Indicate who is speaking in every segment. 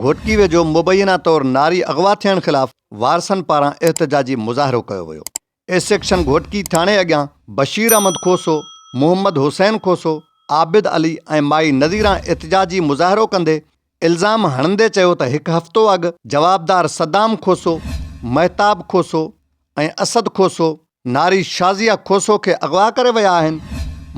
Speaker 1: گهوٽڪي ويجهو مبينا طور ناري اغوا ٿيڻ خلاف وارثن پاران احتجاجي مظاهرو ڪيو ويو، اي سيڪشن گهوٽڪي ٿاڻي اڳيان بشير احمد کوسو، محمد حسين کوسو، عابد علي ۽ مائي نظيران احتجاجي مظاهرو ڪندي الزام هڻندي چيو ته هڪ هفتو اڳ جوابدار صدام کوسو، مهتاب کوسو ۽ اسد کوسو ناري شازيه کوسو کي اغوا ڪري ويا آهن،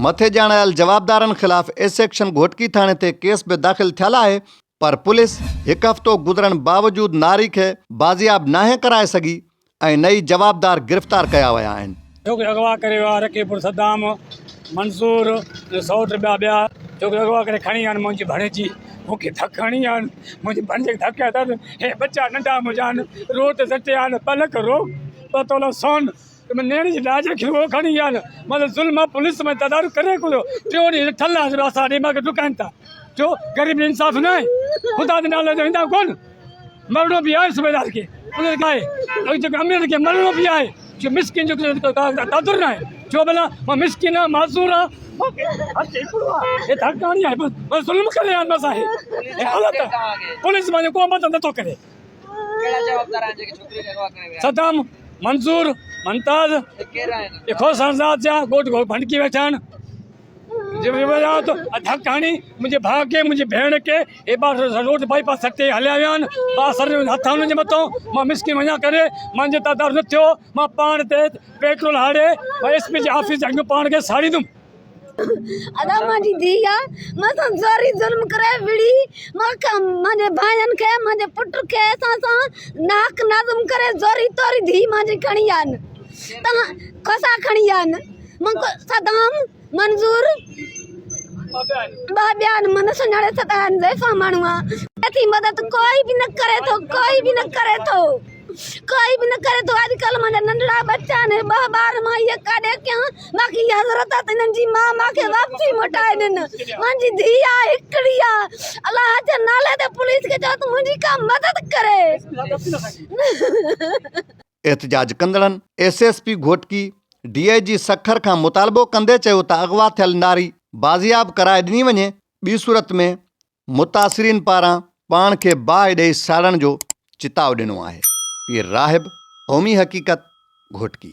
Speaker 1: مٿي ڄاڻايل جوابدارن خلاف اي سيڪشن گهوٽڪي ٿاڻي تي ڪيس به داخل ٿيل آهي پر پوليس هڪ هفتو گذرڻ باوجود ناري کي بازياب ناهي ڪرائي سگهي ۽ نه ئي جوابدار گرفتار ڪيا ويا آهن. ڇو ڪي اغوا ڪري
Speaker 2: ويا رقي پور صدام، منصور ۽ سئوٽ ٻيا ٻيا ڇو ڪي اغوا ڪري کڻي ويا آهن منهنجي ڀڻيجي مون کي ڌڪ هڻي ويا آهن منهنجي ڀڻيجي کي ڌڪ هيا اٿس هي ٻچا ننڍا منهنجا آهن روت سٽيا آهن ٻه لک روڪ الله تعاليٰ سان ۾ نيڻ جي ڏاج رکي اهو کڻي يا نه مطلب ظلم آهي پوليس ۾ تدارڪ ڪري ڪو ٿو ٽيون ڏينهن جو ٺل آهي راستا ڏي ماڳ ڊڪائن ٿا ڇو غريب جو انصاف نه آهي خدا جي نالي جو ايندا ڪون مرڻو به آهي صوبيدار کي پوليس کي آهي جيڪو امير کي مرڻو به آهي جو مسڪين جو قادر نه آهي جو بلا ماں مسڪين آ معذور آ اي تھڪاڻي آ بس ظلم ڪري آ بس آ اي حالت پوليس ماں جو ڪو مدد نٿو ڪري صدام، منظور، منتاز، اخو سنزاد جا ڳوٺ گهور ڀنڊڪي ويٺا آهن. جيولاوت ۽ ڌڪ هڻي منهنجي ڀاء کي، منهنجي ڀيڻ کي هيبا روڊ بائي پاس سڏ تي هليا ويا آهن. بااثر هٿ آهن انهن جي مٿان. مان مسڪين وڃان ڪري مانجي اتان تعارف نه ٿيو. مان پاڻ تي پيٽرول هاڙي ۽ ايس پي جي آفيس جي اڳيان پاڻ کي ساڙيندم.
Speaker 3: ادا مان جي ڌي آ مان سان زوري ظلم ڪري وڙهي مان کان مانجي ڀائين کي مانجي پٽ کي اسان سان ناحق نظم ڪري زوري طوري ڌي مانجي کڻي آ ن تهان کوسا کڻي آ ن مان کي صدام منظور ٻاٻيا ن مان سڃاڻي سدا ن زيفا ماڻهو آ ٿي مدد ڪوئي به نه ڪري ٿو ڪوئي به نه ڪري ٿو ڪوئي به نه ڪري ٿو اڄ ڪلھ مانجا ننڍڙا ٻچا آھن ٻھ ٻار مان اھي ڪاڏي ڪيان باقي اھا حضرت تھ ھنن جي مان مانکي واپسي موٽائي ڏين مانجي ڌيء آ ھڪڙي آ الله جي نالي تي پوليس کي چئو تھ منھنجي ڪا مدد ڪري.
Speaker 1: احتجاج ڪندڙن S S P Ghotki, D I G Sukkur کان مطالبو ڪندي چيو ته اغوا ٿيل ناري بازياب ڪرائي ڏني وڃي ٻي صورت ۾ متاثرين پاران پاڻ کي باهه ڏئي ساڙڻ جو چتاء ڏنو آهي، پير راهب قومي حقيقت گهوٽڪي